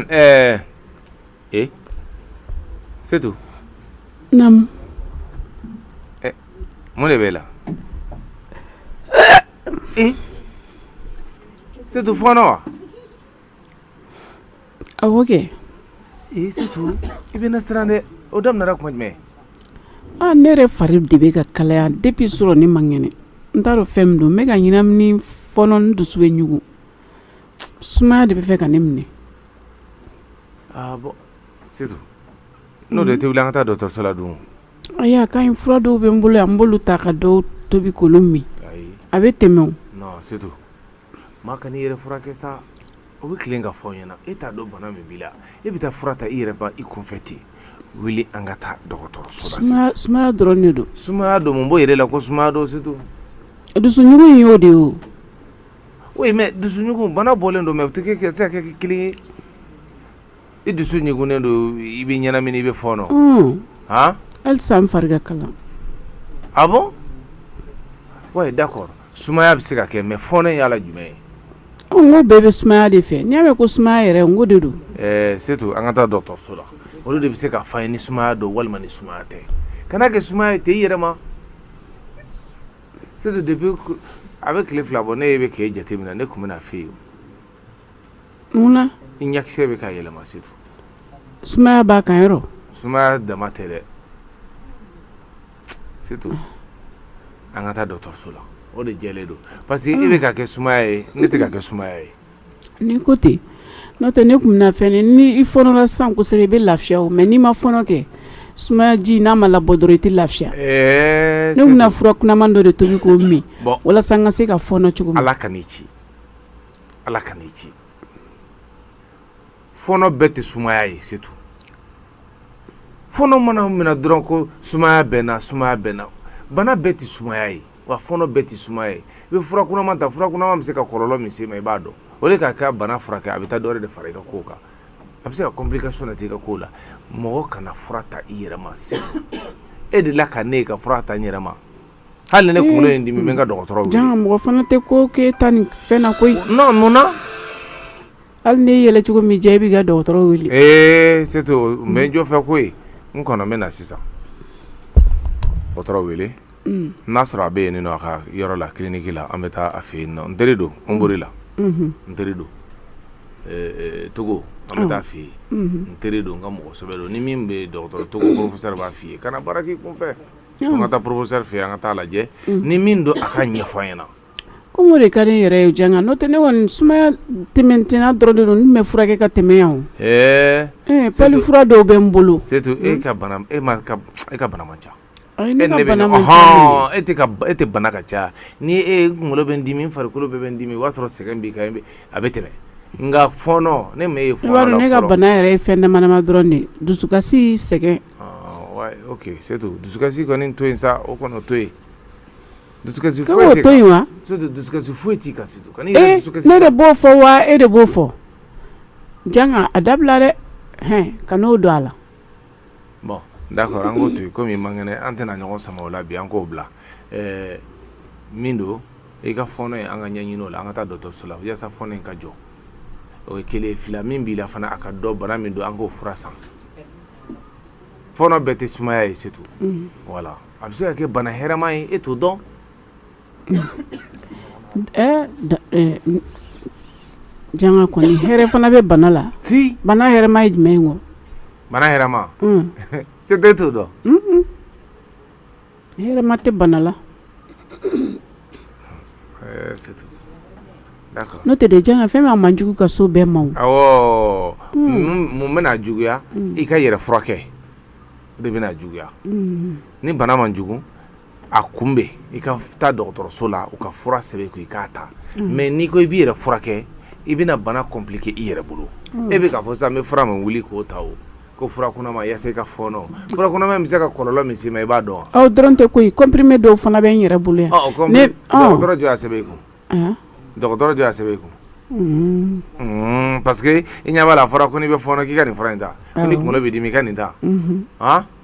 eh, eh, Setu. Namu. Eh, mun b'e la. Eh, Setu, fɔɔnɔ. Ah, ok. Eh, Setu. Il vient de o daminɛra kuma jumɛn ah ne yɛrɛ fari de bɛ ka kalaya depuis surɔ ne man kɛnɛ n t'a dɔn fɛn min don n bɛ ka ɲɛnamini fɔɔnɔ n dusu bɛ ɲugu sumaya de bɛ fɛ ka ne minɛ ah bon setu n'o de tɛ wuli an ka taa dɔgɔtɔrɔso la dun ayi a ka ɲi fura dɔw bɛ n bolo yan n b'olu ta ka dɔw tobi k'olu min ayi a bɛ tɛmɛ o non setu maa kan'i yɛrɛ furakɛ sa o bɛ tilen ka fɔ n ɲɛna e t'a dɔn bana min b'i la e bɛ taa fura ta i yɛrɛ ma i kunfɛ ten wuli an ka taa dɔgɔtɔrɔso la Setu. sumaya sumaya dɔrɔn de don sumaya don mun b'o yir'i la ko sumaya don setu dusuɲugu in y'o de ye o oui mais dusuɲugu bana bɔlen don mais u tɛ kɛ se ka kɛ kelen ye i dusu ɲugunnen don i bɛ ɲɛnamini i bɛ fɔɔnɔ h hali sa n fari ka kalan ah bon ouais d'accord sumaya bɛ se k'a kɛ mais fɔɔnɔ in y'a la jumɛn ye ko bɛɛ bɛ sumaya de fɛ n'i y'a mɛn ko sumaya yɛrɛ n ko de don setu an ka taa dɔtɔso la olu de bɛ se k'a f'an ye ni sumaya don walima ni sumaya tɛ kan'a kɛ sumaya ye ten i yɛrɛ ma setu depuis a bɛ tile fila bɔ ne ye bɛ k'e jateminɛ ne tun bɛn'a f'e ye mun na i ɲakisɛ bɛ ka yɛlɛma setu sumaya b'a kan yɔrɔ sumaya dama tɛ dɛ setu an ka taa dɔgɔtɔrɔso la o de jɛlen don parce que e bɛ k'a kɛ sumaya ye ne tɛ k'a kɛ sumaya ye N'i ko ten n'o tɛ ne tun bɛna fɛn ni i fɔɔnɔla sa kosɛbɛ i bɛ lafiya o mais n'i ma fɔɔnɔ kɛ sumayaji n'a ma labɔ dɔrɔn i tɛ lafiya ne tun bɛna fura kunaman dɔ de tobi k'o min walasa n ka se ka fɔɔnɔ cogo ala ka ci ala ka ci fɔɔnɔ bɛɛ tɛ sumaya ye setu fɔɔnɔ mana minɛ dɔrɔn ko sumaya bɛ n na sumaya bɛ n na bana bɛɛ tɛ sumaya ye wa fɔɔnɔ bɛɛ tɛ sumaya ye i bɛ fura kunaman ta fura kunaman bɛ se ka kɔlɔlɔ min s'i ma i b'a dɔn o de ka kɛ bana furakɛ a bɛ taa dɔwɛrɛ de fara i ka kow kan a bɛ se ka complication nati i ka kow la mɔgɔ kana fura ta i yɛrɛ ma sa e delila ka ne ye ka fura ta n yɛrɛ ma hali ne kunkolo ye n dimi n bɛ n ka dɔgɔtɔrɔ wele jaa mɔgɔ fana tɛ ko kɛ tan nin fɛn na koyi non mun na hali n'i yɛlɛ cogo ma diya i b'i ka dɔgɔtɔrɔ wele ee setu n bɛ n jɔ fɛ koyi n kɔnɔ n bɛ na sisan dɔgɔtɔrɔ wele n'a sɔrɔ a bɛ yen nin a ka yɔrɔ la kiliniki la an bɛ taa a fɛ yen n teri don n boli la n teri don togo an bɛ taa a fɛ yen n teri don n ka mɔgɔsɛbɛ don ni min bɛ dɔgɔtɔrɔ togo porofosɛri b'a fɔ i ye kana baara k'i kun fɛ an ka taa porofosɛri fɛ an ka taa lajɛ ni min don a k'a ɲɛfɔ an ɲɛna ko mun de ka ne yɛrɛ ye janga n'o tɛ ne kɔni sumaya tɛmɛtina dɔrɔn de don n bɛ furakɛ ka tɛmɛ yan ɛɛ pali fura dɔw bɛ n bolo setu e ka e e ka bana ca e e tɛ bana ka ca ni e e kunkolo bɛ dimi farikolo bɛɛ bɛ dimi o y'a sɔrɔ sɛgɛn b'i kan a bɛ tɛmɛ nka fɔɔnɔ ne e ne ka bana yɛrɛ ye fɛn damadama dɔrɔn de dusukasi sɛgɛn setu dusukasi kɔni to yen sa o kɔni to yen dusukasi to yen dusukasi foyi t'i kan ne de b'o fɔ wa e de b'o fɔ janga a dabila dɛ hɛn kan'o don a la Bon d'accord an ko to kɔmi i man kɛnɛ an tɛna ɲɔgɔn sama o la bi an k'o bila min don i ka fɔɔnɔ ye an ka ɲɛɲinin o la an ka taa dɔtɔso la yaasa fɔɔnɔ in ka jɔ o ye kelen ye fila min b'i la fana a ka dɔn bana min don an k'o fura san fɔɔnɔ bɛɛ tɛ sumaya ye setu voilà a bɛ se ka kɛ bana hɛrɛma ye e t'o dɔn Janga kɔni hɛrɛ fana bɛ bana la si bana hɛrɛma ye jumɛn ye n ko bana hɛrɛma setu t'o dɔn hɛrɛma tɛ bana la n'o tɛ dɛ janga fɛn min man jugu ka so bɛɛ ma mun bɛna juguya i ka yɛrɛ furakɛ de bɛna juguya ni bana man jugu a kunbɛ i ka taa dɔgɔtɔrɔso la u ka fura sɛbɛn i kun i k'a ta mm. mais n'i ko i b'i yɛrɛ furakɛ i bɛna bana compliqué i yɛrɛ bolo mm. e bɛ k'a fɔ sisan n bɛ fura min wuli k'o ta o ko fura kunama yaasa i ka fɔɔnɔ fura kunama bɛ se ka kɔlɔlɔ min se i ma i b'a dɔn wa o dɔrɔn tɛ ko comprimé dɔw fana bɛ n yɛrɛ bolo yan dɔgɔtɔrɔ jɔn y'a sɛbɛn i kun dɔgɔtɔrɔ jɔn y'a sɛbɛn i kun Mm. Mm, parce que i ɲɛ b'a la a fɔra ko n'i bɛ fɔɔnɔ k'i ka nin fura in ta ko ni kunkolo bɛ dimi i ka nin ta mm-hmm.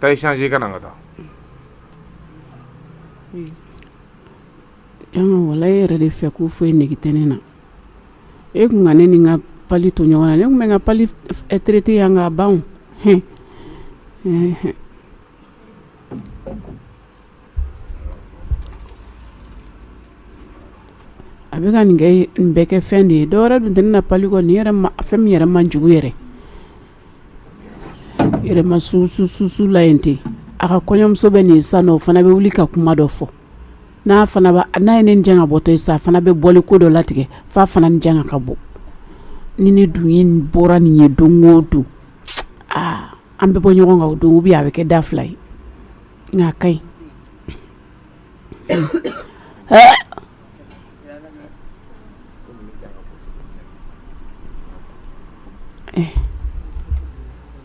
taa i changé ka na an ka taa janga wala e yɛrɛ de fɛ ko foyi nege tɛ ne na e kun ka ne ni n ka pali to ɲɔgɔn na ne kun bɛ n ka pali traité yan k'a ban hɛn a bɛ ka nin kɛ nin bɛɛ kɛ fɛn de ye dɔwɛrɛ dun tɛ ne na pali kɔ nin yɛrɛ ma fɛn min yɛrɛ man jugu yɛrɛ yɛrɛma su su su su la yen ten a ka kɔɲɔmuso bɛ nin san o fana bɛ wuli ka kuma dɔ fɔ n'a fana n'a ye ne ni Janga bɔtɔ ye sa a fana bɛ bɔli ko dɔ latigɛ f'a fana ni Janga ka bɔ ni ne dun ye bɔra nin ye don o don aa an bɛ bɔ ɲɔgɔn kan o don bɛ a bɛ kɛ da fila ye nka a ka ɲi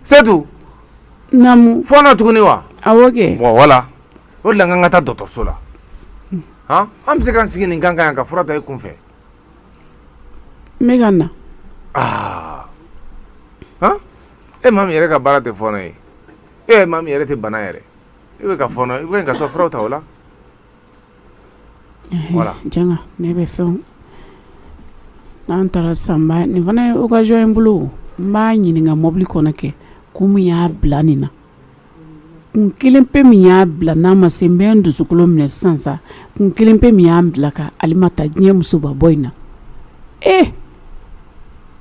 Setu fɔɔnɔ tuguni wa wala o de la n k'an ka taa dɔgɔtɔrɔso la an bɛ se k'an sigi nin kan yan ka fura ta i kun fɛ n bɛ ka na e maa min yɛrɛ ka baara tɛ fɔɔnɔ ye e maa min yɛrɛ tɛ bana yɛrɛ e bɛ ka fɔɔnɔ i ka taa fura ta o la Ne bɛ fɛn n'an taara san nin fana ye occasion ye n bolo n b'a ɲininka mɔbili kɔnɔ kɛ ko min y'a bila nin na kun kelen pe min y'a bila n'a ma se n bɛ n dusukolo minɛ sisan sa kun kelen pe min y'a bila ka Alimata diɲɛ musoba bɔ in na e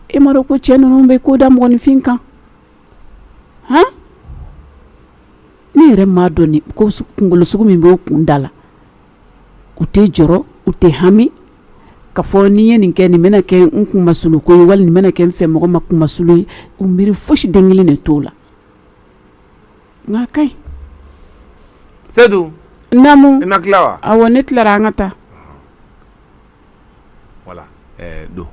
e m'a dɔn ko cɛ ninnu bɛ ko da mɔgɔninfin kan hɔn ne yɛrɛ m'a dɔn nin ko kunkolo sugu min b'u kun da la u tɛ jɔrɔ u tɛ hami ka fɔ n'i ye nin kɛ nin bɛna kɛ n kunmasuli ko ye wali nin bɛna kɛ n fɛ mɔgɔ ma kunmasuli ye u miiri fosi den kelen de t'o la nka a ka ɲi Setu naamu i ma tila wa awɔ ne tilara an ka taa wala don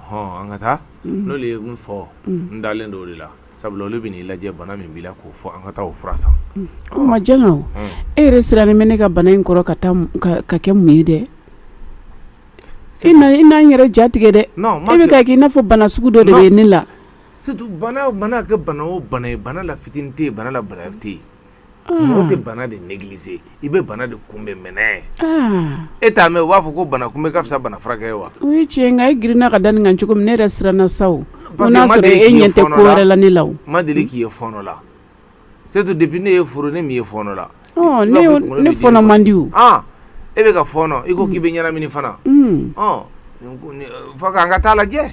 hɔn an ka taa n'olu ye min fɔ n dalen don o de la sabula olu bɛn'i lajɛ bana min b'i la k'o fɔ an ka taa o fura san o ma Janga e yɛrɛ sirannen bɛ ne ka bana in kɔrɔ ka kɛ mun ye dɛ e i n'an yɛrɛ jatigɛ dɛ e bɛ ka k'i n'a fɔ bana sugu dɔ de bɛ ne la bana kɛ bana o bana ye bana la fitinin tɛ bana la bana tɛ yen Mɔgɔ tɛ bana de négliger i bɛ bana de kunbɛn mɛnɛnɛ ye e t'a mɛn u b'a fɔ ko bana kunbɛn ka fisa bana furakɛ ye wa o ye tiɲɛ nka e girinna ka da nin kan cogo min ne yɛrɛ siranna sa o n'a sɔrɔ e ɲɛ tɛ ko wɛrɛ la ne la ma deli k'i ye fɔɔnɔ la surtout depuis ne y'e furu ne m'i ye fɔɔnɔ la ne fɔɔnɔ man di e bɛ ka fɔɔnɔ i ko k'i bɛ ɲɛnamini fana fo k'an ka taa lajɛ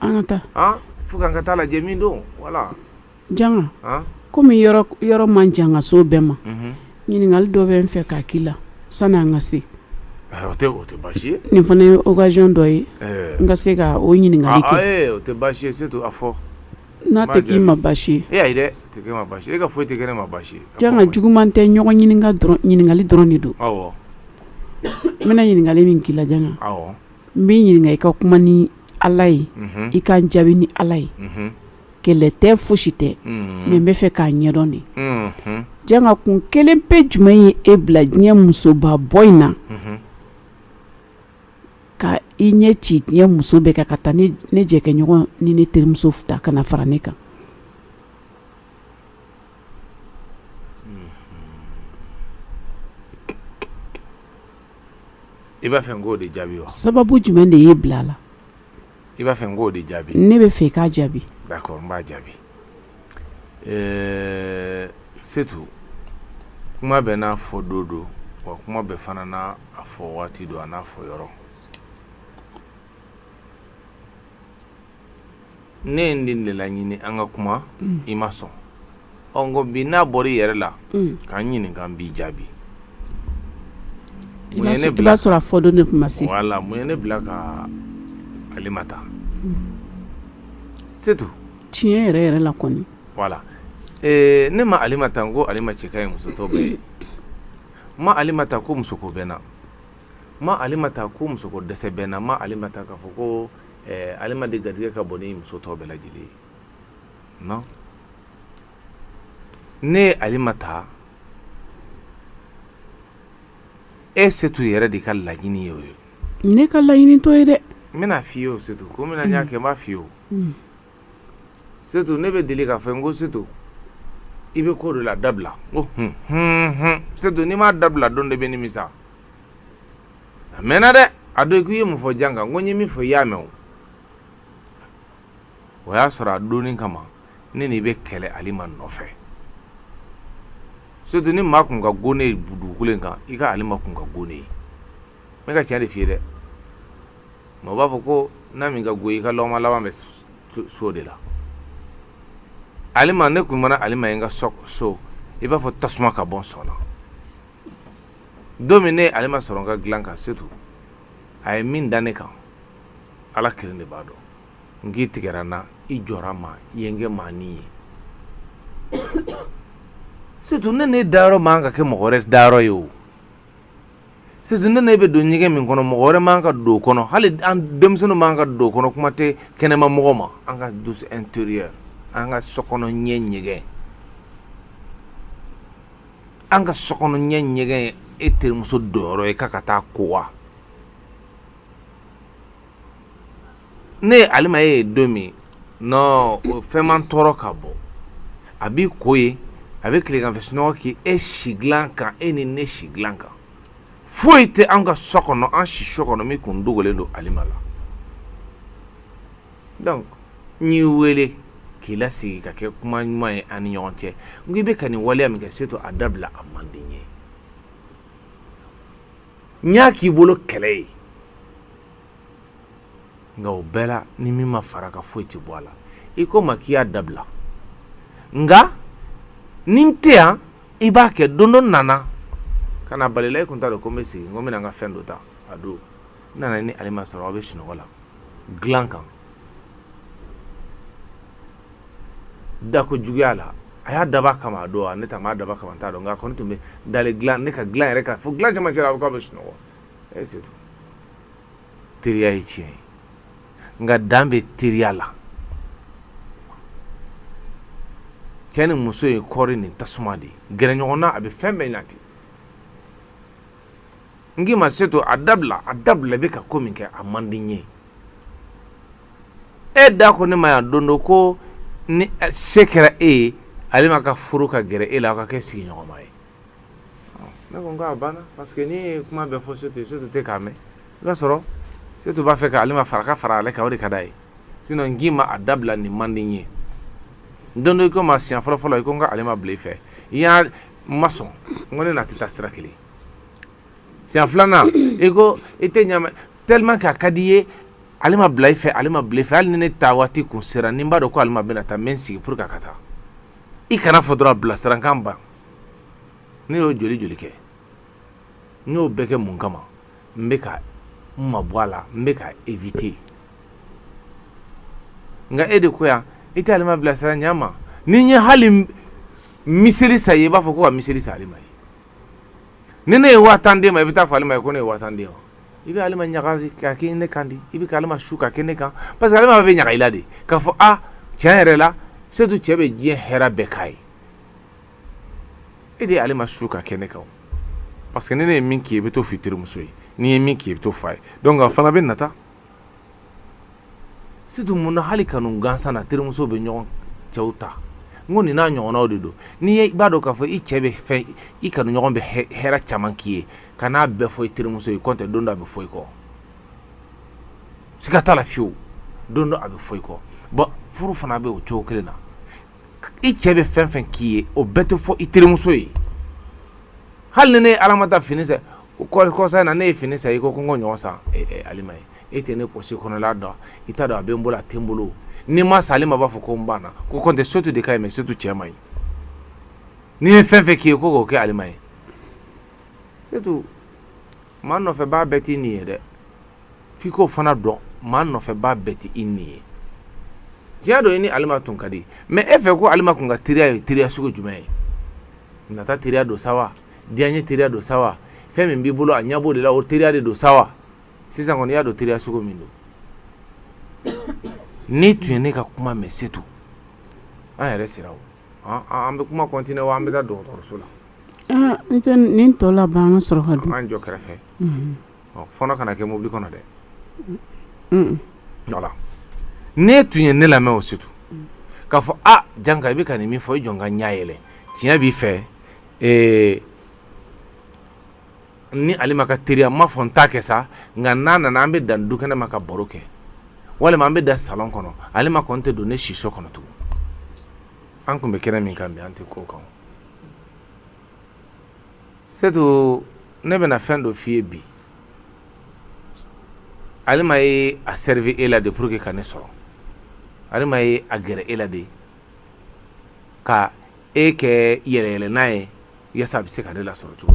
an ka taa fo k'an ka taa lajɛ min don wala janga kɔmi yɔrɔ man jan ka so bɛɛ ma ɲininkali dɔ bɛ n fɛ k'a k'i la sani an ka se nin fana ye okazɔn dɔ ye n ka se ka o ɲininkali kɛ fɔ n'a tɛ k'i ma basi ye e ka foyi tɛ kɛ ne ma basi ye janga juguman tɛ ɲɔgɔn ɲininkali dɔrɔn de don n bɛna ɲininkali min k'i la janga n bɛ ɲininka i ka kuma ni ala ye i ka jaabi ni ala ye kɛlɛ tɛ fosi tɛ mɛ n bɛ fɛ k'a ɲɛdɔn de janga kun kelen pe jumɛn ye e bila diɲɛ musoba bɔ in na ka i ɲɛ ci diɲɛ muso bɛɛ kan ka taa ne jɛkɛɲɔgɔn ni ne terimuso ta ka na fara ne kan i b'a fɛ n k'o de jaabi sababu jumɛn de y'e bila a la i b'a fɛ n k'o de jaabi ne bɛ fɛ i k'a jaabi d'accord n b'a jaabi ɛɛ setu kuma bɛɛ n'a fɔ don don wa kuma bɛɛ fana n'a fɔ waati don a n'a fɔ yɔrɔ ne ye nin de laɲini an ka kuma i ma sɔn ɔ n ko bi n'a bɔra i yɛrɛ la ka n ɲininka n b'i jaabi i b'a sɔrɔ a fɔ don de tun ma se voilà mun ye ne bila ka Alima ta Setu tiɲɛ yɛrɛ yɛrɛ la kɔni voilà ee ne ma Alima ta n ko Alima cɛ ka ɲi muso tɔ bɛɛ ye n ma Alima ta ko musoko bɛ n na n ma Alima ta ko musoko dɛsɛ bɛ n na n ma Alima ta k'a fɔ ko ɛɛ Alima de garijɛgɛ ka bon ni muso tɔ bɛɛ lajɛlen ye Non. Ne ye Alima ta e Setu yɛrɛ de ka laɲini ye o ye ne ka laɲini t'o ye dɛ n bɛn'a f'i ye o Setu ko min na n y'a kɛ n b'a f'i ye o mm. Setu ne bɛ deli k'a fɔ n ko Setu i bɛ ko dɔ la a dabila n ko hun hun hun Setu n'i m'a dabila don dɔ i bɛ nimisa a mɛnna dɛ a don k'i ye mun fɔ Janga n ko n ye min fɔ i y'a mɛn o o y'a sɔrɔ a don in kama ne n'i bɛ kɛlɛ alima nɔfɛ setu ni maa kun ka go ne dugukolo in kan i ka alima kun ka go ne ye ne bɛ ka tiɲɛ de f'i ye dɛ mɛ u b'a fɔ ko na min ka go i ka lɔgɔma laban bɛ s'o de la alima ne tun mana alima ye n ka so i b'a fɔ tasuma ka bɔ n sɔn na don min ne ye alima sɔrɔ n ka dilan kan setu a ye min da ne kan ala kelen de b'a dɔn n k'i tigɛra n na i jɔra n ma i ye n kɛ maani ye surtout ne n'e dayɔrɔ man ka kɛ mɔgɔ wɛrɛ dayɔrɔ ye o surtout ne n'e bɛ don ɲɛgɛn min kɔnɔ mɔgɔ wɛrɛ man ka don o kɔnɔ hali an denmisɛnninw man ka don o kɔnɔ kuma tɛ kɛnɛma mɔgɔ ma an ka douche intérieure an ka sokɔnɔ ɲɛ ɲɛgɛn an ka sokɔnɔ ɲɛ ɲɛgɛn e terimuso donyɔrɔ ye k'a ka taa ko wa ne ye alima ye don min nɔ fɛn ma n tɔɔrɔ ka bɔ a b'i ko ye a bɛ tileganfɛ sunɔgɔ k'i e si dilan kan e ni ne si dilan kan foyi tɛ an ka so kɔnɔ an siso kɔnɔ min kun dogolen don alima la donc n y'i wele k'i lasigi ka kɛ kuma ɲuman ye an ni ɲɔgɔn cɛ n ko i bɛ ka nin waleya min kɛ setu a dabila a man di n ye n y'a k'i bolo kɛlɛ ye nka o bɛɛ la ni min ma fara ka foyi tɛ bɔ a la i ko ma k'i y'a dabila nka ni n tɛ yan i b'a kɛ don dɔ n nana ka na bal'i la i kun t'a dɔn ko n bɛ segin kɔ n bɛna n ka fɛn dɔ ta a don n nana ni alima sɔrɔ aw bɛ sunɔgɔ la dilan kan dako juguya la a y'a dab'a kama a don wa ne ta m'a dab'a kama n t'a dɔn nka a kɔni tun bɛ dalen ne ka dilan yɛrɛ kan fo dilan cɛmancɛ la a ko k'a bɛ sunɔgɔ setu teriya ye tiɲɛ ye nka dan bɛ teriya la cɛ ni muso ye kɔɔri ni tasuma de ye gɛrɛ ɲɔgɔn na a bɛ fɛn bɛɛ ɲati n k'i ma setu a dabila a dabila i bɛ ka ko min kɛ a man di n ye e de ko ne ma yan don dɔ ko ni se kɛra e ye alima ka furu ka gɛrɛ e la aw ka kɛ sigiɲɔgɔnma ye ne ko n ko a banna parce que n'i ye kuma bɛɛ fɔ setu ye setu tɛ k'a mɛn i b'a sɔrɔ setu b'a fɛ ka alima fara ka fara ale kan o de ka d'a ye sinon n k'i ma a dabila nin man di n ye don dɔ i ko ma siɲɛ fɔlɔ fɔlɔ i ko n ka alima bila i fɛ i y'a n ma sɔn n ko ne n'a tɛ taa sira kelen siɲɛ filanan i ko i tɛ ɲa tellement que a ka di i ye alima bila i fɛ alima bila i fɛ hali ni ne taa waati kun sera ni n b'a dɔn ko alima bɛna taa n bɛ n sigi pour que a ka taa i kana fɔ dɔrɔn bilasira kan ban ne y'o joli joli kɛ n y'o bɛɛ kɛ mun kama n bɛ ka n mabɔ a la n bɛ ka éviter nka e de ko yan i tɛ alima bilasira ɲɛ ma ni n ye hali miseli san i ye i b'a fɔ ko ka miseli san alima ye ni ne ye waa tan d'e ma i bɛ t'a fɔ alima ye ko ne ye waa tan d'e ma i bɛ alima ɲaga ka kɛ ne kan de i bɛ ka alima su ka kɛ ne kan parce que alima bɛ ɲaga i la de k'a fɔ a tiɲɛ yɛrɛ la setu cɛ bɛ diɲɛ hɛrɛ bɛɛ k'a ye e de ye alima su ka kɛ ne kan parce que ni ne ye min k'i ye i bɛ t'o f'i terimuso ye n'i ye min k'i ye i bɛ t'o f'a ye donc a fana bɛ nata setu mun na hali kanu gansan na terimusow bɛ ɲɔgɔn cɛw ta n ko nin n'a ɲɔgɔnnaw de don n'i ye i b'a dɔn k'a fɔ i cɛ bɛ fɛn i kanuɲɔgɔn bɛ hɛrɛ caman k'i ye kan'a bɛɛ fɔ i terimuso ye kɔntɛ don dɔ a bɛ fɔ i kɔ siga t'a la fiyewu don dɔ a bɛ fɔ i kɔ bon furu fana bɛ o cogo kelen na i cɛ bɛ fɛn fɛn k'i ye o bɛɛ tɛ fɔ i terimuso ye hali ni ne ye ala ma ta fini san kɔsa in na ne ye fini san i ko ko n k'o ɲɔgɔn san alima ye e tɛ ne pɔsi kɔnɔla dɔn i t'a dɔn a bɛ n bolo a tɛ n bolo ni n m'a san alima b'a fɔ ko n banna ko kɔntɛ setu de ka ɲi mais setu cɛ man ɲi ni n ye fɛn fɛn k'i ye ko k'o kɛ alima ye setu maa nɔfɛbaa bɛɛ t'i ɲin ye dɛ f'i k'o fana dɔn maa nɔfɛbaa bɛɛ tɛ i ɲin ye tiɲɛ don i ni alima tun ka di mais e fɛ ko alima kun ka teriya ye teriya sugu jumɛn ye nata teriya don sa wa diyanye teriya don sa wa fɛn min b'i bolo a ɲɛ b'o de la o teriya de don sa wa sisan kɔni i y'a dɔn teriya sugu min don n'i tun ye ne ka kuma mɛn setu an yɛrɛ sera o an bɛ kuma kɔntine wa an bɛ taa dɔgɔtɔrɔso la N tɛ nin tɔ laban ka sɔrɔ an jɔ kɛrɛfɛ fɔlɔ kana kɛ mobili kɔnɔ dɛ n'e tun ye ne lamɛn o setu k'a fɔ a janka i bɛ ka nin min fɔ i jɔ ka ɲɛ yɛlɛ tiɲɛ b'i fɛ ni alima ka teriya n m'a fɔ n t'a kɛ sa nka n'a nana an bɛ dan dukɛnɛ ma ka baro kɛ walima an bɛ dan salon kɔnɔ alima kɔni tɛ don ne siso kɔnɔ tugun an tun bɛ kɛnɛ min kan bi an tɛ k'o kan setu ne bɛna fɛn dɔ f'i ye bi alima ye a servi e la de pour que ka ne sɔrɔ alima ye a gɛrɛ e la de ka e kɛ yɛlɛyɛlɛnan ye yaasa a bɛ se ka ne lasɔrɔ cogo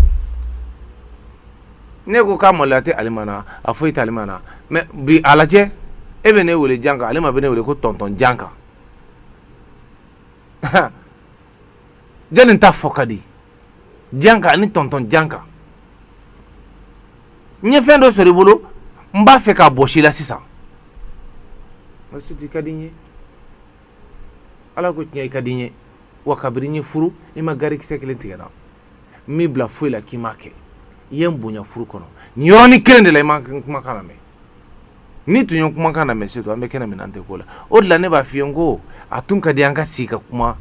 min ne ko k'a maloya tɛ alima na a foyi tɛ alima na mais bi a lajɛ e bɛ ne wele janka alima bɛ ne wele ko tɔntɔn janka jɔnni ta fɔ ka di janka ani tɔntɔn janka n ye fɛn dɔ sɔrɔ i bolo n b'a fɛ k'a bɔsi i la sisan ma setu i ka di n ye ala kɔ tiɲɛ i ka di n ye wa kabiri n ye furu i ma garikisɛ kelen tigɛ n na n m'i bila foyi la k'i m'a kɛ i ye n bonya furu kɔnɔ nin yɔrɔnin kelen de la i ma kumakan lamɛn n'i tun ye kumakan lamɛn setu an bɛ kɛnɛ min na an tɛ k'o la o de la ne b'a f'i ye n ko a tun ka di an ka sigi ka kuma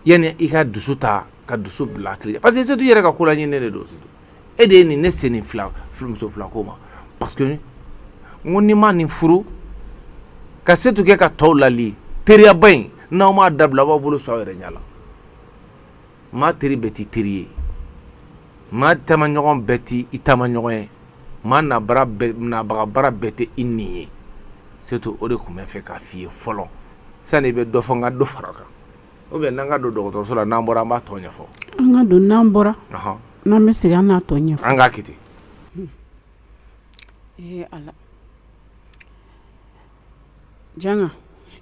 yanni i ka dusu ta ka dusu bila tile parce que setu i yɛrɛ ka ko laɲininen de don setu e de ye nin ne se nin muso fila ko ma parce que n ko ni n ma nin furu ka setu kɛ ka tɔw lali teriyaba in n'aw m'a dabila a b'aw bolo sɔn aw yɛrɛ ɲɛ la maa teri bɛɛ t'i teri ye maa taamaɲɔgɔn bɛɛ t'i taamaɲɔgɔn ye maa nabaga bara bɛɛ tɛ i nin ye surtout o de tun bɛ fɛ k'a f'i ye fɔlɔ sani i bɛ dɔ fɔ n ka dɔ fara kan ou bien n'an ka don dɔgɔtɔrɔso la n'an bɔra an b'a tɔ ɲɛfɔ an ka don n'an bɔra n'an bɛ segin an n'a tɔ ɲɛfɔ an k'a kɛ ten hmm. ee ala janka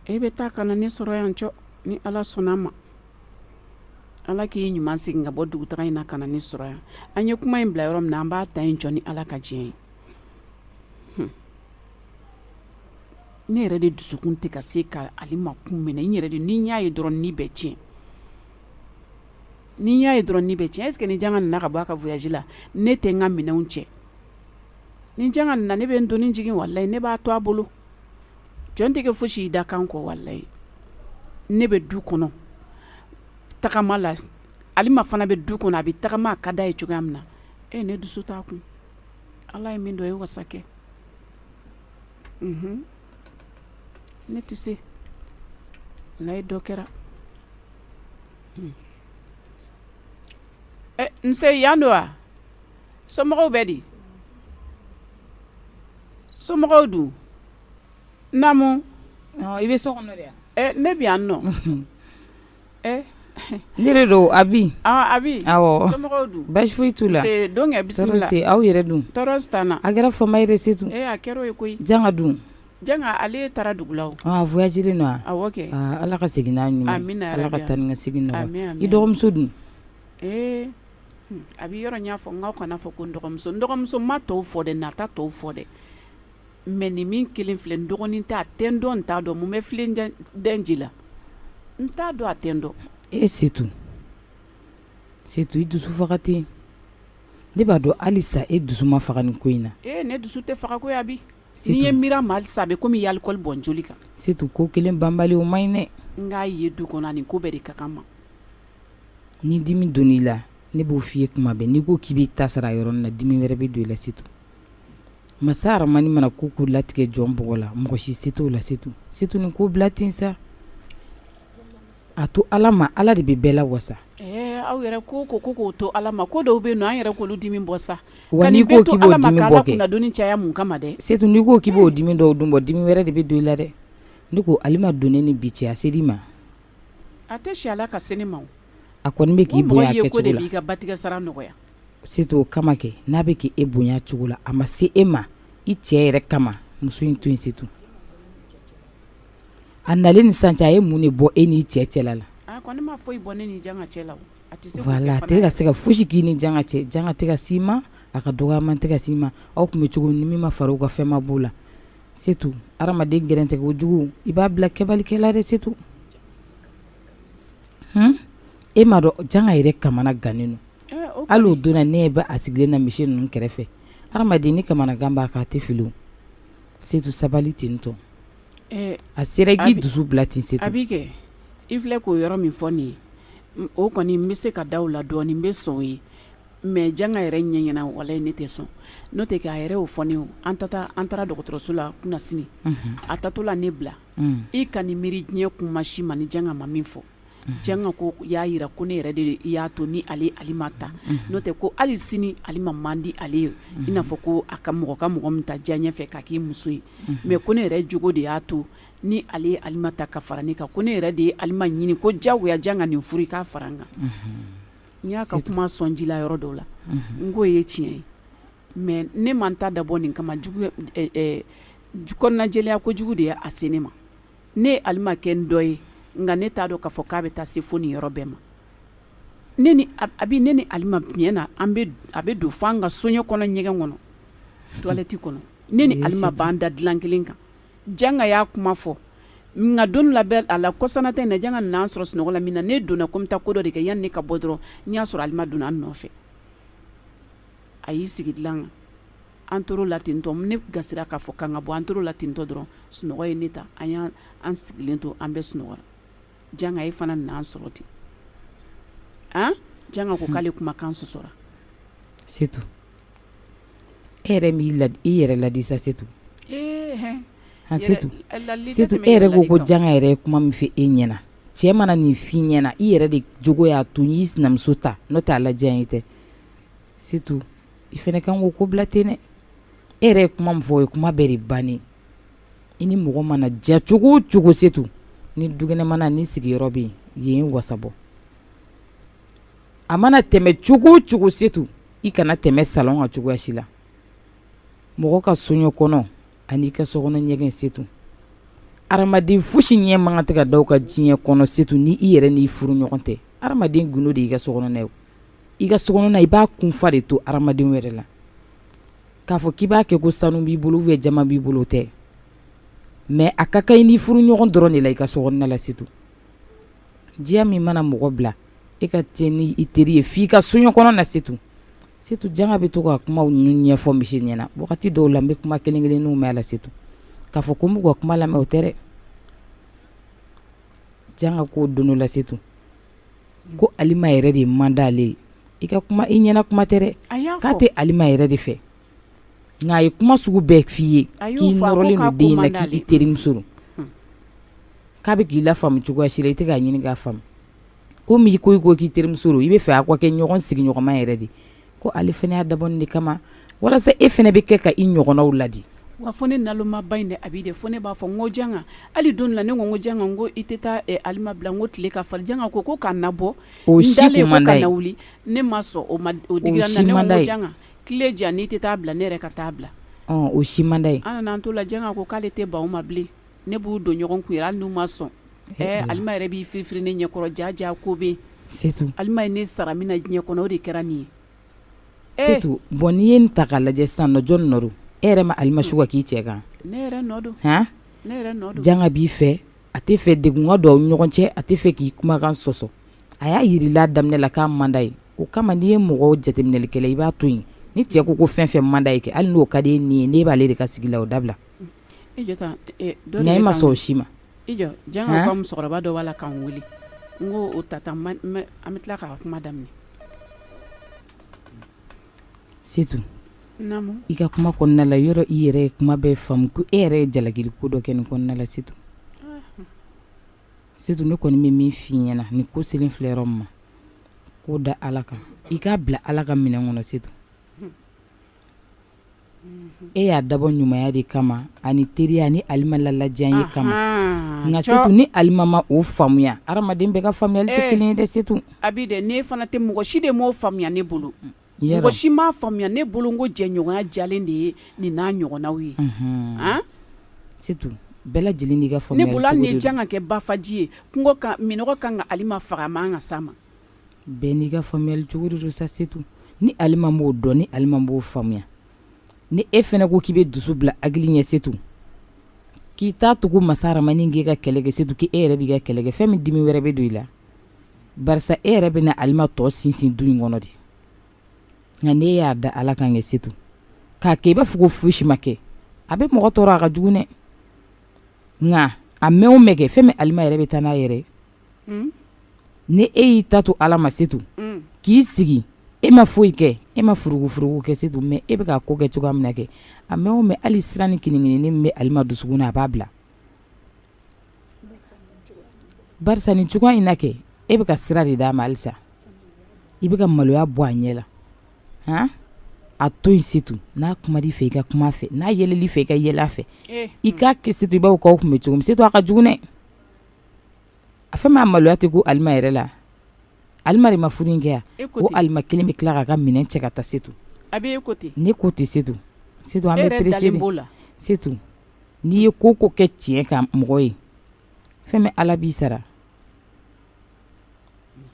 e bɛ taa ka na ne sɔrɔ yan cɔ ni ala sɔnna ma ala k'i ɲuman segin ka bɔ dugutaga in na ka na ne sɔrɔ yan an ye kuma in bila yɔrɔ min na an b'a ta yen cɔ ni ala ka diɲɛ ye hmm. ne yɛrɛ de dusukun tɛ ka se ka alima kun minɛ n yɛrɛ de ni n y'a ye dɔrɔn ni bɛ tiɲɛ ni n y'a ye dɔrɔn ni bɛ tiɲɛ est-ce que ni janka nana ka bɔ a ka voyage la ne tɛ n ka minɛnw cɛ ni janka nana ne bɛ n doni jigin walayi ne b'a to a bolo jɔn tɛ kɛ fosi y'i dakan kɔ walayi ne bɛ du kɔnɔ tagama la alima fana bɛ du kɔnɔ a bɛ tagama a ka d'a ye cogoya min na e ne dusu t'a kun ala ye min dɔn ye wasa kɛ unhun ne tɛ se walayi dɔ kɛra ɛ nse yan don wa somɔgɔw bɛ di somɔgɔw dun i bɛ so kɔnɔ ne bɛ yan nɔ ne de don abi abi baasi t'u la don aw yɛrɛ dun tɔɔrɔ si t'an na a kɛra fama yɛrɛ c'est tout a kɛra o ye koyi janka dun janka ale taara dugu la voyagelen don wa ala ka segin n'a ɲuman ala ka taa ni ka segin nɔgɔya i dɔgɔmuso dun A bɛ yɔrɔ n y'a fɔ n k'a kana a fɔ ko n dɔgɔmuso n dɔgɔmuso n ma tɔw fɔ dɛ ne t'a tɔw fɔ dɛ mais nin min kelen filɛ n dɔgɔnin tɛ a tɛ n dɔn n t'a dɔn mun bɛ fi dɛji la n t'a dɔn a tɛ n dɔn c'est tout i dusu faga ten ne b'a dɔn halisa e dusu ma faga nin ko in na e ne dusu tɛ faga koyi abi ni ne miir'a ma halisa a bɛ kɔmi i ye alcool bɔn joli kan c'est tout ko kelen banbali o man ɲi dɛ n k'a ye du kɔnɔ nin ko bɛɛ de ka gan n ma ni dimi donna i la ne b'o f'i ye kuma bɛɛ n'i ko k'i b'i ta sara yɔrɔnin na dimi wɛrɛ bɛ don i la c'est tout masa aramani mana ko latigɛ jɔn bɔgɔ la mɔgɔ si se t'o la c'est tout c'est tout nin ko bila ten sa a to ala ma ala de bɛ bɛɛ la wasa aw yɛrɛ ko ko ko k'o to ala ma ko dɔw bɛ yen nɔ an yɛrɛ k'olu dimi bɔ sa wa n'i ko k'i b'o dimi bɔ kɛ doni caya mun kama dɛ c'est tout n'i ko k'i b'o dimi dɔw dun bɔ dimi wɛrɛ de bɛ don i la dɛ ne ko alima donnen ni bi cɛ ya se ma A tɛ si ala ka se ne ma a kɔni bɛ k'i bonya ye ko de b'i ka batigɛ sara nɔgɔya setu o kama kɛ n'a bɛ k'e bonya cogo la a ma se e ma i cɛ yɛrɛ kama muso in to yen setu a nalen ni sisan cɛ a ye mun de bɔ e n'i cɛ cɛla la a kɔni ma foyi bɔ ne ni janga cɛ la a tɛ ka se ka foyisi k'i ni janga cɛ janga tɛ ka s'i ma a ka dɔgɔman tɛ ka s'i ma aw tun bɛ cogo min ni min ma fara o kan fɛn ma b'o la Setu adamaden gɛrɛntɛ ko jugu i b'a bila kɛbalikɛ la dɛ setu e m'a dɔn janga yɛrɛ kamana gannen don hali o don na ne b'a sigilen na misi ninnu kɛrɛfɛ adamaden ni kamana gan b'a kan a tɛ fili setu sabali tentɔ a sera k'i dusu bila ten setu a bɛ kɛ i filɛ k'o yɔrɔ min fɔ nin ye o kɔni n bɛ se ka da o la dɔɔnin n bɛ sɔn o ye mais janga yɛrɛ ɲɛ ɲɛna walayi ne tɛ sɔn n'o tɛ k'a yɛrɛ y'o fɔ ne ye an taara dɔgɔtɔrɔso la kunasini an taatɔ la ne bila i ka nin miiri diɲɛ kuma si ma ni janga ma min fɔ janga k'o y'a jira ko ne yɛrɛ de y'a to ni ale ye alima ta n'o tɛ ko hali sini alima man di ale ye i n'a fɔ ko a ka mɔgɔ ka mɔgɔ min ta diyaɲɛ fɛ k'a k'i muso ye mais ko ne yɛrɛ jogo de y'a to ni ale ye alima ta ka fara n kan ko ne yɛrɛ de ye alima ɲini k'o jagoya janga nin furu i k'a fara n kan N y'a ka kuma sɔn ji la yɔrɔ dɔw la n k'o ye tiɲɛ ye mais ne ma n ta dabɔ nin kama kɔnɔnajɛlenya ko jugu de ye a se ne ma, ne ye Alima kɛ n dɔgɔ ye nka ne t'a dɔn k'a fɔ k'a bɛ taa se fo nin yɔrɔ bɛɛ ma, ne ni Abi ne ni Alima tiɲɛ na a bɛ don f'an ka soɲɛ kɔnɔ ɲɛgɛn kɔnɔ toilette kɔnɔ ne ni Alima b'an da dilan kelen kan Janga y'a kuma fɔ nka don laban na kɔsanata in na janga n'an sɔrɔ sunɔgɔ la min na ne donna ko n bɛ taa ko dɔ de kɛ yanni ne ka bɔ dɔrɔn n y'a sɔrɔ alima donna an nɔfɛ a y'i sigi dilan kan an tor'o la tentɔ ne gasira k'a fɔ k'an ka bɔ an tor'o la tentɔ dɔrɔn sunɔgɔ ye ne ta an y'an sigilen to an bɛɛ sunɔgɔra janga e fana n'an sɔrɔ ten a janga ko k'ale kumakan sɔsɔra setu e yɛrɛ i yɛrɛ ladi sa setu an setu e yɛrɛ ko ko janga yɛrɛ ye kuma min f'e ɲɛna cɛ mana nin f'i ɲɛna i yɛrɛ de jogo y'a to n y'i sinamuso ta n'o t'ale diyaɲɛ tɛ setu i fana kan'o ko bila ten dɛ e yɛrɛ ye kuma min fɔ o ye kuma bɛɛ de bannen i ni mɔgɔ mana diya cogo o cogo setu ni dukɛnɛmana ni sigiyɔrɔ bɛ yen yen wasa bɔ a mana tɛmɛ cogo o cogo c'est tout i kana tɛmɛ salon kan cogoya si la mɔgɔ ka soɲɔ kɔnɔ ani i ka sokɔnɔ ɲɛgɛn c'est tout adamaden foyisi ɲɛ man kan tɛ ka da o kan diɲɛ kɔnɔ c'est tout ni i yɛrɛ n'i furu ɲɔgɔn tɛ adamaden gundo de y'i ka sokɔnɔna ye i ka sokɔnɔna i b'a kunfa de to adamaden wɛrɛ la k'a fɔ k'i b'a kɛ ko sanu b'i bolo ou jaman b'i bolo dɛ mais a ka kan i ni furu ɲɔgɔn dɔrɔn de la i ka so la c'est tout diya min mana mɔgɔ bila e ka taa ni i teri ye f'i ka soɲɔ kɔnɔ na c'est tout c'est tout janga bɛ to ka kuma ninnu ɲɛfɔ misi ɲɛna wagati dɔw la n bɛ kuma kelen kelen ninnu mɛn a la c'est tout k'a fɔ ko n b'u ka kuma lamɛn o tɛ dɛ janga ko don la c'est tout ko alima yɛrɛ de man d'ale ye i ka kuma i ɲɛna kuma tɛ dɛ k'a tɛ alima yɛrɛ de fɛ nka a ye kuma sugu bɛɛ f'i ye k'i nɔrɔlen don den in na k'i terimuso don k'a bɛ k'i lafaamu cogoya si la i tɛ k'a ɲini k'a faamu comme i ko i ko k'i terimuso don i bɛ fɛ a ka kɛ ɲɔgɔn sigiɲɔgɔnma yɛrɛ de ye ko ale fana y'a dabɔ nin de kama walasa e fana bɛ kɛ ka i ɲɔgɔnnaw laadi wa fo ne nalomaba in dɛ Abi dɛ fo ne b'a fɔ n ko janga hali don dɔ la ne ko n ko janga n ko i tɛ taa Alima bila n ko tile ka farin janga ko ko ka n nabɔ o si tun man d'a ye n dalen ko ka na wuli ne ma sɔn o ma o digira n na o si man d'a ye ne ko n ko janga tile jan n'i tɛ taa bila ne yɛrɛ ka taa bila o si man d'a ye an nana an to la janga ko k'ale tɛ ban o ma bilen ne b'u don ɲɔgɔn kun hali n'u ma sɔn ɛɛ alima yɛrɛ b'i firifiri ne ɲɛkɔrɔ jaa jaa ko bɛ yen c'est tout alima ye ne sara min na diɲɛ kɔnɔ o de kɛra nin ye c'est tout bon n'i ye nin ta k'a lajɛ sisan nɔ jɔn nɔ don e yɛrɛ ma alima su ka k'i cɛ kan ne yɛrɛ nɔ don janga b'i fɛ a tɛ fɛ degun ka don aw ɲɔgɔn cɛ a tɛ fɛ k'i kumakan sɔsɔ a y'a jirila daminɛ la k'a man d'a ye o kama n'i ye mɔgɔw jateminɛlikɛla i b'a to yen ni cɛ ko ko fɛn fɛn man d'a ye kɛ hali n'o ka di e ni ye ne b'ale de ka sigi la o dabila nka e ma sɔn o si ma musokɔrɔba dɔ b'a la k'an weele n ko o ta an bɛ tila k'a kuma daminɛ c'est tout i ka kuma kɔnɔna la yɔrɔ i yɛrɛ ye kuma bɛɛ faamu ko e yɛrɛ ye jalaki ko dɔ kɛ nin kɔnɔna la c'est tout C'est tout ne kɔni bɛ min f'i ɲɛna nin ko selen filɛ yɔrɔ min ma k'o da ala kan i k'a bila ala ka minɛn kɔnɔ c'est tout e y'a dabɔ ɲumanya de kama ani teriya ni alima la diyanye kama nka c'est tout ni alima ma o faamuya adamaden bɛɛ ka faamuyali tɛ kelen ye dɛ c'est tout a bɛ ne fana tɛ mɔgɔ si de m'o faamuya ne bolo mɔgɔ si m'a faamuya ne bolo ko jɛɲɔgɔnya diyalen de ye nin n'a ɲɔgɔnnaw ye, unhun, an, c'est tout bɛɛ lajɛlen n'i ka faamuyali cogo de don, ne bolo hali ni janga kɛ bafaji ye kungo kan minnɔgɔ ka kan ka alima faga a man kan ka s'a ma, bɛɛ n'i ka faamuyali cogo de don sa c'est tout ni alima m'o dɔn ni alima m'o faamuya ni e fɛnɛ ko k'i bɛ dusu bila hakili ɲɛ c'est tout k'i t'a to ko masa rahamani k'e ka kɛlɛ kɛ c'est tout k'e yɛrɛ b'i ka kɛlɛ kɛ fɛn min dimi wɛrɛ bɛ don i la barisa e yɛrɛ bɛna alima tɔ sinsin du in kɔnɔ de nka n'e y'a da ala kan kɛ setu k'a kɛ i b'a fɔ ko foyisi ma kɛ a bɛ mɔgɔ tɔɔrɔ a ka jugu dɛ nka a mɛn o mɛn kɛ fɛn min alima yɛrɛ bɛ taa n'a yɛrɛ hmm? ni e y'i ta to ala ma setu hmm. k'i sigi e ma foyi kɛ e ma furugufurugu kɛ setu mais e bɛ ka ko kɛ cogoya min na kɛ a mɛn o mɛn hali siran ni kininkini min bɛ alima dusukun na a b'a bila Barisa nin cogoya in na kɛ e bɛ ka sira de d'a ma halisa i bɛ ka maloya bɔ a ɲɛ la han a to yen setu n'a kuma i fɛ i ka kuma a fɛ n'a yɛlɛl'i fɛ i ka yɛlɛ a fɛ i k'a kɛ setu i b'a fɔ k'aw tun bɛ cogo min setu a ka jugu dɛ a fɛn min a maloya tɛ kun alima yɛrɛ la Alima de ma furu in kɛ yan o alima kelen bɛ tila k'a ka minɛn cɛ ka taa setu ne ko ten setu an bɛ perese de setu n'i ye ko o ko kɛ tiɲɛ kan mɔgɔ ye fɛn min ala b'i sara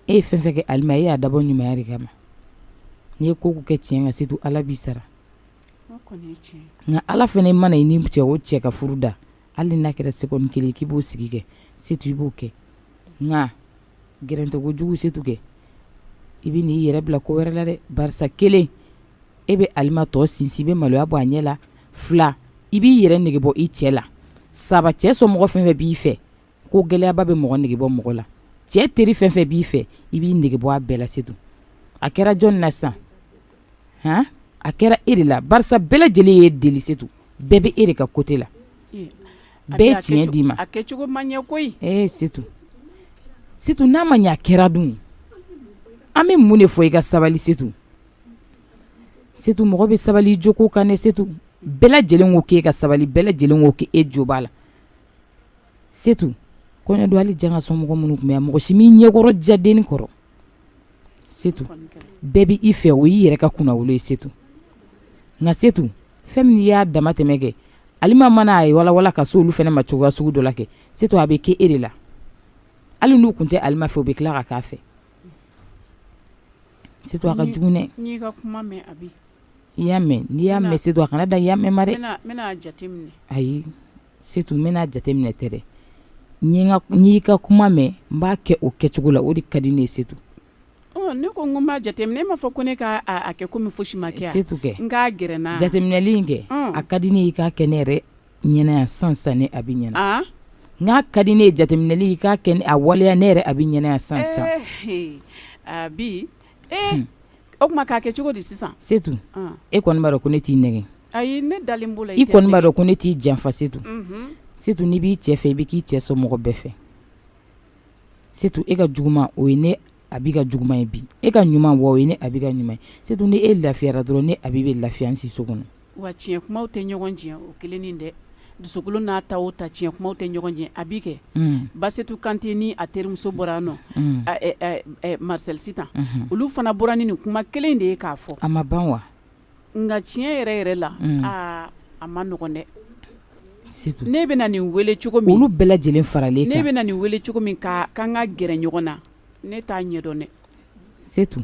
e ye fɛn fɛn kɛ alima ye i y'a dabɔ ɲumanya de kama n'i ye ko o ko kɛ tiɲɛ kan setu ala b'i sara nka ala fɛnɛ mana i ni cɛ o cɛ ka furu da hali n'a kɛra seconde kelen k'i b'o sigi kɛ setu i b'o kɛ Gɛrɛntɛ kojugu setu kɛ i bɛ n'i yɛrɛ bila ko wɛrɛ la dɛ barisa kelen e bɛ alima tɔ sinsin i bɛ maloya bɔ a ɲɛ la fila i b'i yɛrɛ nege bɔ i cɛ la saba cɛ somɔgɔ fɛn fɛn b'i fɛ ko gɛlɛyaba bɛ mɔgɔ nege bɔ mɔgɔ la cɛ teri fɛn fɛn b'i fɛ i b'i nege bɔ a bɛɛ la setu a kɛra jɔn na sisan han a kɛra e de la barisa bɛɛ lajɛlen y'e deli setu bɛɛ bɛ e de ka côté la bɛɛ ye tiɲɛ d'i ma, a kɛcogo ma ɲɛ koyi, ee Setu, Setu n'a ma ɲɛ a kɛra dun, an bɛ mun de fɔ i ka sabali Setu, Setu mɔgɔ bɛ sabali i joko kan dɛ Setu, bɛɛ lajɛlen ko k'e ka sabali bɛɛ lajɛlen ko k'e jo b'a la, Setu, kɔɲɔdon hali Janga somɔgɔ minnu tun bɛ yan mɔgɔ si m'i ɲɛkɔrɔ diya denni kɔrɔ setu bɛɛ bɛ i fɛ o y'i yɛrɛ ka kunnawolo ye setu nka setu fɛn min n'i y'a dama tɛmɛ kɛ alima mana a ye walawala ka se olu fana ma cogoya sugu dɔ la kɛ setu a bɛ kɛ e de la hali n'u tun tɛ alima fɛ u bɛ tila ka k'a fɛ setu a ka jugu dɛ n y'i ka kuma mɛn abi i y'a mɛn n'i y'a mɛn setu a kana dan i y'a mɛn ma ayi Setu n bɛna jateminɛ tɛ dɛ n y'i ka kuma mɛn n b'a kɛ o kɛcogo la o de ka di ne ye setu ne ko n b'a jateminɛ e m'a fɔ ko ne k'a kɛ komi fosi ma kɛ setu kɛ n k'a gɛrɛ n jateminɛli in kɛ a ka di ne ye i k'a kɛ ne yɛrɛ ɲɛna yan sisan ne abi ɲɛna n'a ka di ne ye jateminɛli i k'a kɛ a waleya ne yɛrɛ abi ɲɛna yan sisan abi Ee o tuma k'a kɛ cogo di sisan Setu e kɔni b'a dɔn ko ne t'i nɛgɛn ayi ne dalen b'o la i kɔni b'a dɔn ko ne t'i janfa Setu Setu n'i b'i cɛ fɛ i bɛ k'i cɛ somɔgɔ bɛɛ fɛ Setu e ka juguman o ye ne Abi ka juguman ye bi e ka ɲuman wa o ye ne Abi ka ɲuman ye Setu ni e lafiyara dɔrɔn ne Abi bɛ lafiya n siso kɔnɔ Wa tiɲɛ kumaw tɛ ɲɔgɔn tiɲɛ o kelen nin dɛ dusukolo n'a ta o ta tiɲɛ kumaw tɛ ɲɔgɔn tiɲɛ Abi kɛ Basetu Kante ni a terimuso bɔra nɔ Marcel Sitan olu fana bɔra ni nin kuma kelen de ye k'a fɔ a ma ban wa nka tiɲɛ yɛrɛ yɛrɛ la aa a ma nɔgɔn dɛ ne bɛna nin weele cogo min olu bɛɛ lajɛlen faralen ne bɛna nin weele cogo min k'an ka gɛrɛ ɲɔgɔn na ne t'a ɲɛdɔn dɛ setu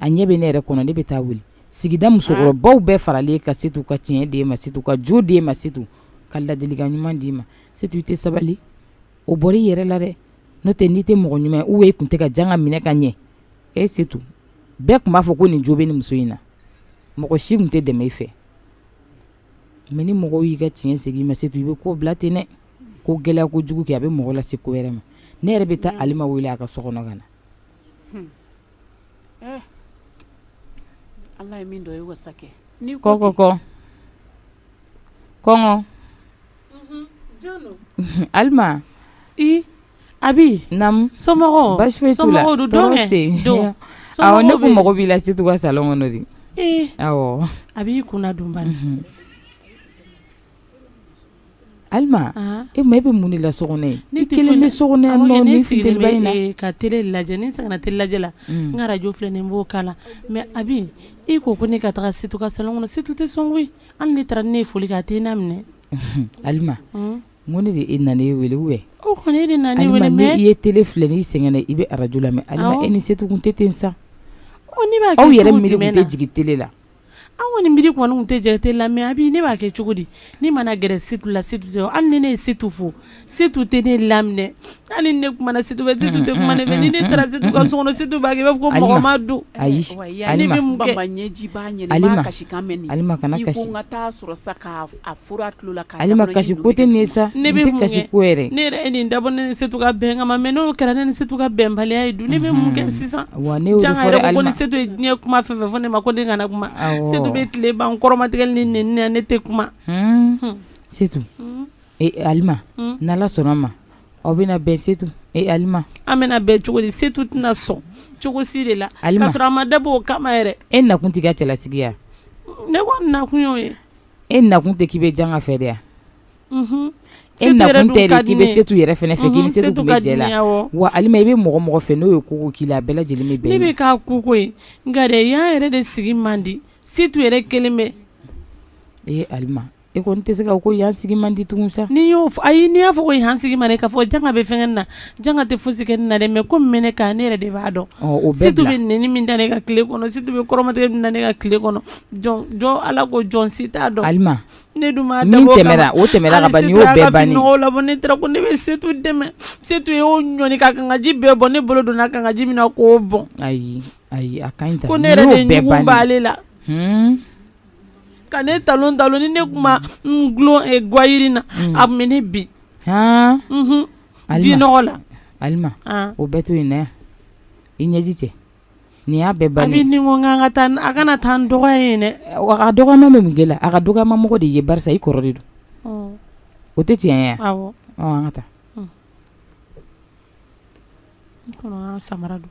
a ɲɛ bɛ ne yɛrɛ kɔnɔ ne bɛ taa wuli sigida musokɔrɔbaw bɛɛ faralen kan Setu ka tiɲɛ d'e ma Setu ka jo d'e ma Setu ka ladilikan ɲuman d'i ma Setu i tɛ sabali o bɔra i yɛrɛ la dɛ n'o tɛ n'i tɛ mɔgɔ ɲuman ye u tun tɛ ka jan ka minɛ ka ɲɛ e Setu bɛɛ tun b'a fɔ ko nin jo bɛ nin muso in na mɔgɔ si tun tɛ dɛmɛ i fɛ mais ni mɔgɔw y'i ka tiɲɛ segin i ma Setu i bɛ ko bila ten dɛ ko gɛlɛya kojugu kɛ a bɛ mɔgɔ lase ko wɛrɛ ma ne yɛrɛ bɛ taa Alima wele a ka so kɔnɔ ka na eh. ala ye min dɔ ye wasa kɛ ni kɔ kɔ kɔ kɔngɔ mhm, alima i Abi nam somɔgɔw basi foyi t'u la tɔɔrɔ tɛ yen awɔ ne ko mago b'i la Setu ka salon kɔnɔ de awɔ Abi ko na don bani mhm. Alima e bɛ mun la so kɔnɔ ne kelen bɛ so ka tele lajɛ ni sɛgɛnna tele lajɛ la n ka arajo filɛ nin b'o kan lamɛn Abi e ko ko ne ka taa setu ka salon kɔnɔ setu tɛ sɔn koyi hali ne taara ne ye foli kɛ a tɛ n laminɛ Alima ko ne de nana e weele wele o kɔni e nana ne weele mais i ye tele filɛ n'i sɛgɛnna i bɛ arajo lamɛn e ni setu tɛ tɛ sa aw yɛrɛ miiri tɛ jigin tele la An kɔni miiri kɔni tɛ jate la mais Abi ne b'a kɛ cogo di ni n mana gɛrɛ setu la setu tɛ hali ni ne ye setu fo setu tɛ ne laminɛ hali ni ne kumana setu fɛ setu tɛ kuma ne fɛ ni ne taara setu ka so kɔnɔ setu b'a kɛ i b'a fɔ ko mɔgɔ ma don ayi ɲɛji A fura tulo la ka Alima kasi ko tɛ nin ye sa ne bɛ mun kɛ kasi ko yɛrɛ ne yɛrɛ ye nin dabɔ ne ni Setu ka bɛn kama mais n'o kɛra ne ni Setu ka bɛnbaliya ye dun ne bɛ mun kɛ sisan wa ne y'o de fɔ dɛ Alima jaa n yɛrɛ ko ko ni Setu ye diɲɛ kuma fɛn fɛn fɔ ne ma ko ne kana kuma awɔ Setu bɛ tile ban n kɔrɔmatigɛli ni nɛni na ne tɛ kuma hun hun Setu hun e Alima hun n'Ala sɔnna ma aw bɛna bɛn Setu e Alima an bɛna bɛn cogo di Setu tɛna sɔn cogo si de la Alima k'a sɔrɔ a ma dabɔ o kama yɛrɛ e nakun t'i ka cɛlasigi ye a ne kɔni nakun y'o ye E nakun tɛ k'i bɛ Janga fɛ de e nakun tɛ k'i bɛ Setu yɛrɛ fɛ k'i se jɛ la wa Alima i bɛ mɔgɔ mɔgɔ fɛ n'o ye ko k'i la bɛɛ lajɛlen bɛ bɛ ka koko nka dɛ yan yɛrɛ de sigi man di Setu yɛrɛ kelen bɛ Alima e kɔni tɛ se ka ko yan sigi man di tugun sa n' y'o a n' y'a fɔ ko yan sigi man di k'a fɔ Janga bɛ fɛn na Janga tɛ fosi kɛ ne na dɛ mais ko min bɛ ne kan ne yɛrɛ de b'a dɔn, ɔ o bɛɛ bila, Setu bɛ nɛni min da ne kan tile kɔnɔ Setu bɛ kɔrɔmatigɛ min da ne kan tile kɔnɔ jɔn Ala kɔ jɔn si t'a dɔn, Alima, ne dun m'a dabɔ o kama, min tɛmɛna o tɛmɛna ka ban nin y'o bɛɛ bannen ye, hali Setu y'a ka fini nɔgɔw labɔ ne taara ko ne bɛ Setu dɛmɛ Setu ye o ɲɔni ka kangaji bɛɛ bɔn ne bolo donna kangaji min na k'o bɔn, ayi ayi a ka ɲi tan, ko ne yɛrɛ de ɲugun b'ale la, hunn, ka ne talon talon ni ne tun ma n dulon ɛ gwayirini na a tun bɛ ne bin, han, unhun jinɔgɔ la Alima o bɛɛ to yen na i ɲɛji cɛ nin y'a bɛɛ bannen ko ka taa a kana taa n dɔgɔya yen dɛ a dɔgɔyama bɛ mun kɛ i la a ka dɔgɔyama mɔgɔ de ye barisa i kɔrɔ de don o tɛ tiɲɛ ye an ka taa samara don